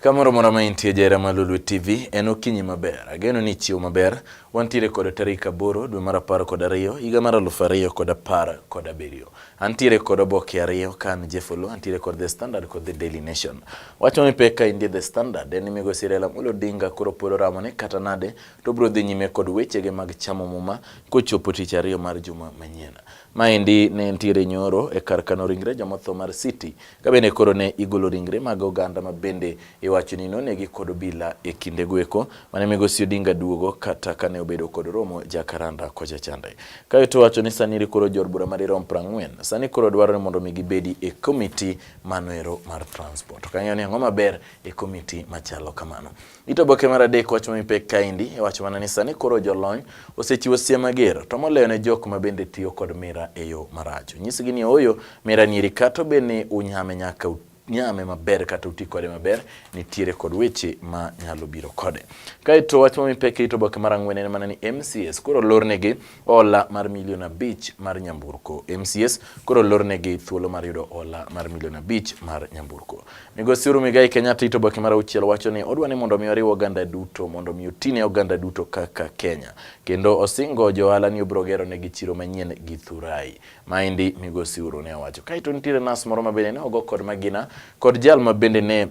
Kamoro mora ma intie jera ma Lulu TV en okinyi maber. Ageno ni chiwo maber. Wantiere kod tarik aboro dwe mar apar kod ariyo higa mar aluf ariyo kod apar kod abiriyo. Antiere kod oboke ariyo ka an Jefolo, antiere kod The Standard kod The Daily Nation. Wach ma mipek ka indie The Standard en ni migosi Raila Amolo Odinga koro pod oramo ni kata nade to obiro dhi nyime kod wechege mag chamo muma kochopo tich ariyo mar juma manyien. Maendi ne ntiere nyoro e kar kano ringre jomotho mar City Ka bende koro ne igolo ringre mag oganda ma bende iwacho ni nonegi kod obila e kinde gweko mane migosi Odinga duogo kata kane obedo kod romo jakaranda kocha chande. Kae to wacho ni sani iri koro jor bura madirom prang'wen. Sani koro dwaro ni mondo mi gibedi e komiti manoero mar transport. Ok ang'eyo ni ang'o maber e komiti machalo kamano. Ito boke mar adek wach mami pek kaendi e wach mana ni sani koro jolony osechiwo siem mager to moloyo ne jok ma bende tiyo kod mira e yo marach. Onyisgi ni ooyo mira niri kato be ni unyame nyaka nyame maber kata uti kode maber nitiere kod weche ma nyalo biro kode. Kaeto wach mami pek ito boke mar ang'wen en mana ni MCS koro lornegi Ola mar milion abich mar nyamburko. MCS koro lornegi thuolo mar yudo ola mar milion abich mar nyamburko. Migosi Uhuru Muigai Kenyatta ito boke mar auchiel wacho ni odwa ni mondo mi oriw oganda duto mondo mi otine oganda duto kaka Kenya. Kendo osingo johala ni obiro gero negi chiro manyien gi Thurai. Maendi Migosi Uhuru ne owacho. Kaito nitiere nas moro mabende ne ogo kod magina kod jal mabende ne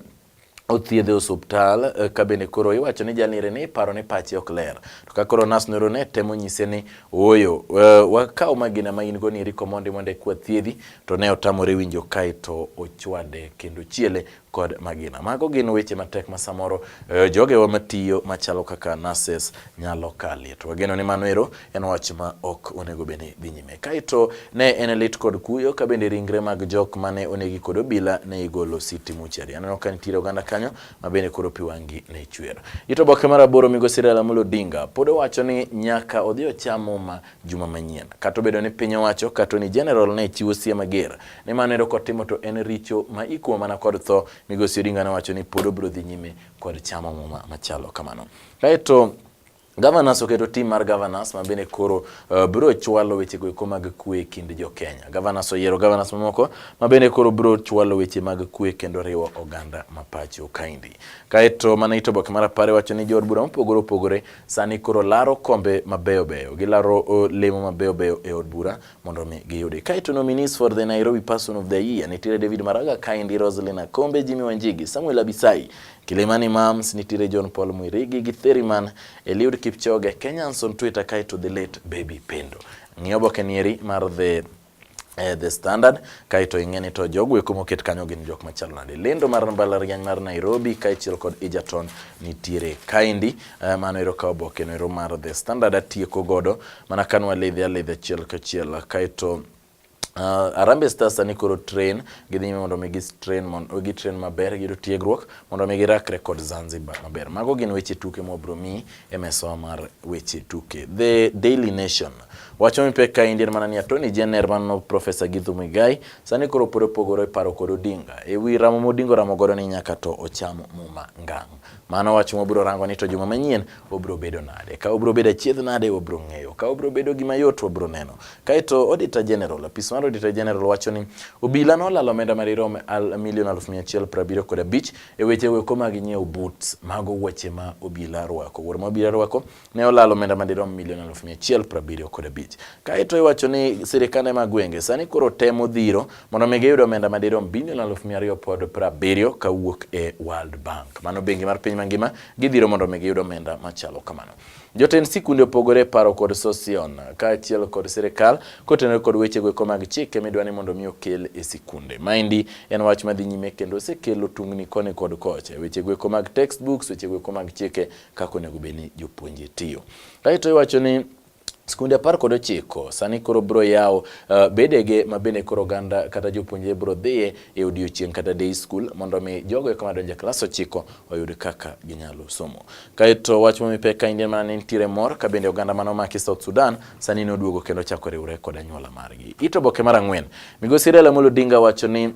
othiedhe osuptal eh, ka bende koro iwacho ni jalire ni paro ni pache ok ler to ka koro nas noro ne temo nyise ni ooyo eh, wakaw magina ma in go ni riko mondi mondo ekwa thiedhi to ne otamore winjo kae to ochwade kendo chiele kod magina. Mago gin weche matek ma samoro eh, jogewa matiyo machalo kaka nurses nyalo kalie. To wageno ni mano ero en wach ma ok onego bed ni dhi nyime. Kaeto ne en lit kod kuyo ka bende ringre mag jok mane onegi kod obila ne igolo City Muchari. Aneno ka nitiere oganda kanyo ma bende koro pi wangi ne chwer. Ito boke mar aboro migosi Raila Amolo Odinga pod owacho ni nyaka odhi ocham muma juma manyien. Kata obedo ni piny owacho kata ni general ne chiwo sie mager ni mano ero kotimo to en richo ma ikumo mana kod tho. Migosi Odinga ne owacho ni pod obiro dhi nyime kod chamo muma machalo kamano. Kaeto Governors oketo tim mar governors ma bende koro uh, biro chwalo weche goeko mag kwe e kind jo Kenya. Governors oyiero governors mamoko ma bende koro biro chwalo weche mag kwe kendo riwo oganda ma pacho kaindi. Kaeto mana ito boke mar apare wacho ni jood bura mopogore opogore sani koro laro kombe mabeyo beyo. Gilaro uh, lemo mabeyo beyo e od bura mondo mi giyudi. Kaeto nominees for the Nairobi Person of the Year nitiere David Maraga, Kaindi Roslyn Akombe, Jimmy Wanjigi, Samuel Abisai, Kilimani Mams, nitiere John Paul Mwirigi, Githeriman, Eliud Kipchoge, Kenyans on Twitter, kaeto the late Baby Pendo. Ng'iyo oboke nieri mar the eh, the standard kaito ing'eni to jogo eko moket kanyo gin jok machalo nade lendo mar mbalariany mar nairobi kaachiel kod egerton nitiere kaendi eh, mano ero ka oboke no ero mar the standard atieko godo Mana ka nwaledhe aledha achiel kachiel kaeto Uh, Harambee Stars sani koro train gidhi nyime mondo mi gi train mondo gi train maber giyudo tiegruok mondo mi girakre kod Zanzibar maber. Mago gin weche tuke mwabro mi e mesawa mar weche tuke. The Daily Nation wacho mi pek ka indir mana ni Attorney General mano Professor Githu Muigai sani koro pod opogore paro kod Odinga e wi ramo modingo ramo godo ni nyaka to ocham muma ngang'. Mano wach mwabiro rango ni to juma manyien obiro bedo nade. Ka obiro bedo achiedh nade wabiro ng'eyo. Ka obiro bedo gima yot wabiro neno. Kaeto Auditor General, apis mar Auditor General wacho ni obila nolalo omenda madirom al milion aluf mia achiel piero abiriyo kod abich e weche weko mag nyiewo boots. Mago wuoche ma obila rwako. Wuor ma obila rwako ne olalo omenda madirom milion aluf mia achiel piero abiriyo kod abich. Kaeto iwacho ni sirikande mag gwenge sani koro temo dhiro mondo mi giyud omenda madirom bilion aluf mia ariyo pod piero abiriyo kawuok e World Bank. Mano bengi mar piny mangima gidhiro mondo mi giyud omenda machalo kamano. Jotend sikunde opogore e paro kod Sosion kaachiel kod sirikal kotenore kod weche goeko mag chike midwa ni mondo mi okel e sikunde. Maendi en wach madhi nyime kendo osekelo tungni koni kod kocha. Weche goeko mag textbooks, weche goeko mag chike kaka onego bed ni jopuonje tiyo. Kaeto iwacho ni Skunde apar kod ochiko sani koro bro yaw uh, eh, bedege ma bende koro oganda kata jopuonjre bro dhiye e odiechieng' kata day school mondo mi jogo eka madonjo e klas ochiko oyud kaka ginyalo somo. Kaeto wach momi pek ka Indian mana nitiere mor ka bende oganda mano maki South Sudan sani noduogo kendo chako riwre kod anyuola margi. Ito boke mar ang'wen. Migosi Raila Amolo Odinga wacho ni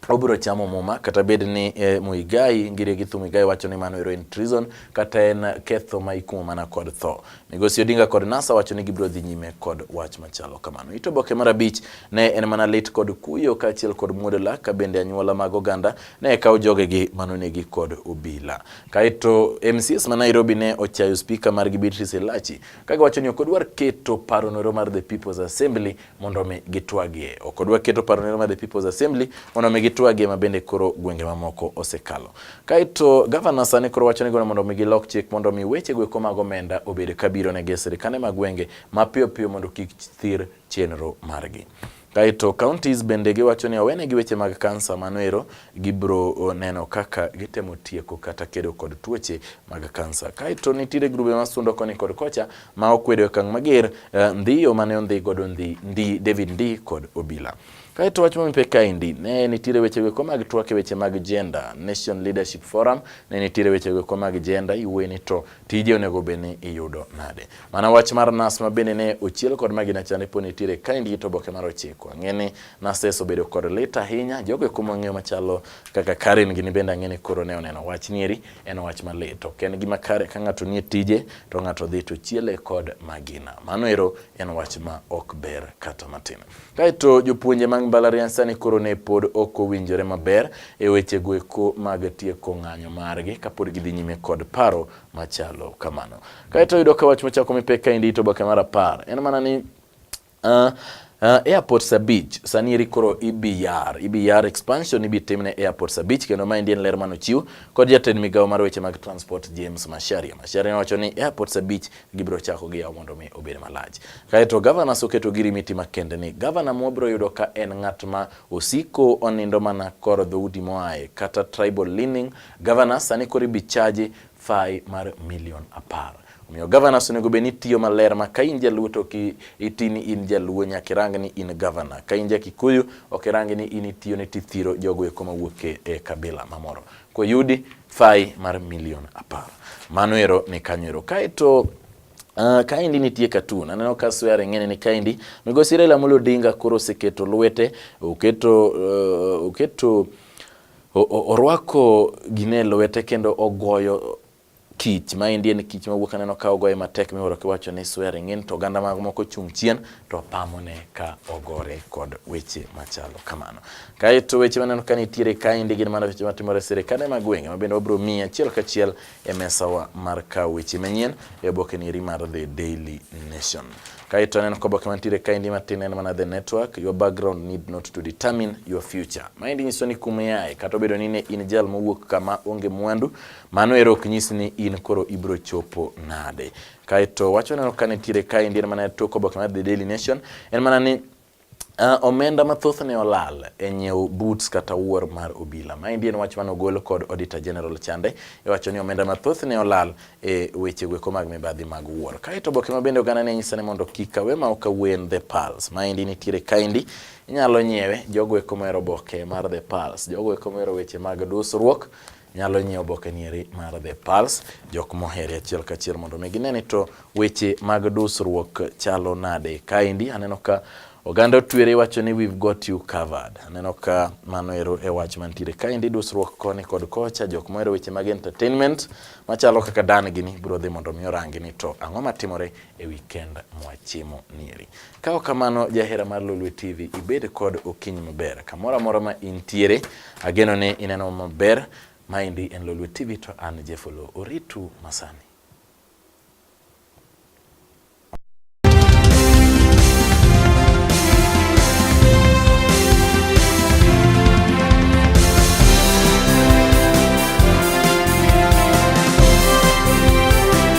obiro chamo muma kata bed ni eh, Muigai Ngire Githu Muigai wacho ni mano ero en treason kata en ketho ma ikumo mana kod tho. Migosi Odinga kod NASA wacho ni gibiro dhi nyime kod wach machalo kamano. Ito boke mar abich ne en mana lit kod kuyo kaachiel kod muodo lak ka bende anyuola mag oganda ne kawo jogegi manonegi kod obila. Kaeto MCS ma Nairobi ne ochayo spika margi Beatrice Elachi ka giwacho ni ok odwar keto paro noro mar the People's Assembly mondo mi gitwagie. Ok odwa keto paro ne Madhe People's Assembly mondo mi gitwagie ma bende koro gwenge mamoko osekalo. Kaito gavana sani koro wacho ni gono mondo mi gilok chik mondo mi weche gweko mag omenda obed kabiro ne sirkande mag gwenge mapiyo piyo mondo kik thir chenro margi. Kaito counties bende giwacho ni owenegi weche mag kansa manoero gibro neno kaka gitemo tieko kata kedo kod tuoche mag kansa. Kaito nitiere grube masundo koni kod kocha ma okwedo e okang' mager eh, ndhi yo mane ondhi godo ndhi ndi David ndi kod obila. Kae to wach momipe kaendi ne nitiere wechego eko mag twak e weche mag gender, Nation Leadership Forum ne nitiere wechego eko mag gender, iweni to tije onego bed ni iyudo nade. Mana wach mar nas ma bende ne ochiel kod magina cha ne po nitiere kaendi gi to oboke mar ochiko. Ang'e ni nases obedo kod lit ahinya, jogo eko mang'eyo machalo kaka Karen gini bende ang'e ni koro ne oneno wach nieri En wach malit, ok en gima kare ka ng'ato nie tije to ng'ato dhi to chiele kod magina. Mano ero en wach ma ok ber kata matin. Kaeto jopuonje mag mbalariany sani koro ne pod ok owinjore maber e weche goeko mag tieko ng'anyo margi kapod gidhi nyime kod paro machalo kamano. Kaeto yudo ka wach machako mipek kaendi to boke mar apar en mana ni Uh, Uh, airports abich sani eri koro ibiyar e ibiyar e expansion ibitimne e airports abich kendo maendi en ler mane ochiw kod jatend migawo mar weche mag transport James Masharia. Masharia nowacho ni airports abich gibiro chako gi yawo mondo mi obed malach. Kaeto governors oketo girimiti makende ni governor mwabiro yudo ka en ng'at ma osiko onindo mana kor dhoudi moaye kata tribal leaning governors sani koro ibichaji fai mar milion apar. Omiyo governors onego bed ni tiyo maler ma ka in jaluo to iti ni in jaluo nyaka irang ni in governor. Ka in jakikuyu ok irang ni in itiyo ni tithiro jogo eko mawuok e, e kabila mamoro. Koyudi fai mar milion apar. Mano ero ni kanyo ero. Kaeto Uh, kaendi nitie katun aneno ka swear ing'ene ni kaendi migosi Raila Amolo Odinga koro oseketo lwete oketo uh, oketo Orwako gine lwete kendo ogoyo kich ma endi en kich mawuok aneno ka ogoye matek miwuoro kiwacho ni swearing in to oganda mag moko chung' chien to pamone ka ogore kod weche machalo kamano. Kaeto weche maneno ka nitiere kaendi gin mana weche matimore e sirkande mag gwenge ma bende wabiro miyi achiel kachiel e mesawa mar kawo weche manyien e oboke nieri mar The Daily Nation. Kaito aneno ka oboke mantiere kaendi matin en mana The Network, your background need not to determine your future. Maendi nyiso ni kuma iaye kata obedo ni ne in jal mowuok kama onge mwandu, mano ero ok nyis ni in koro ibiro chopo nade. Kaito wacho neno ka nitiere kaendi en mana tok oboke mar The Daily Nation en mana ni Uh, omenda mathoth ne olal e nyiewo boots kata wuor mar obila. Maendi en wach mane ogol kod Auditor General chande iwacho ni omenda mathoth ne olal e weche gweko mag mibadhi mag wuor. Kaeto oboke ma bende oganda ne nyisa ni mondo kik awe ma ok awen The Pulse. Maendi nitiere kaendi inyalo nyiewe jogo eko mohero oboke mar The Pulse. Jogo eko mohero weche mag dusruok nyalo nyiewo oboke nieri mar The Pulse jok mohere achiel kachiel mondo mi gine ni to weche mag dusruok chalo nade. Kaendi aneno ka oganda otwere wacho ni we've got you covered. Aneno ka mano ero e wach mantiere kaendi dusruok koni kod kocha jok mohero weche mag entertainment machalo kaka Dan gini biro dhi mondo mi orangi ni to ang'o matimore e weekend mwachimo nieri. Ka ok kamano, jahera mar Lolwe TV, ibed kod okinyi maber. Kamoro amora ma intiere, ageno ni ineno maber. Maendi en Lolwe TV to an Jeff Oloo. Oritu masani.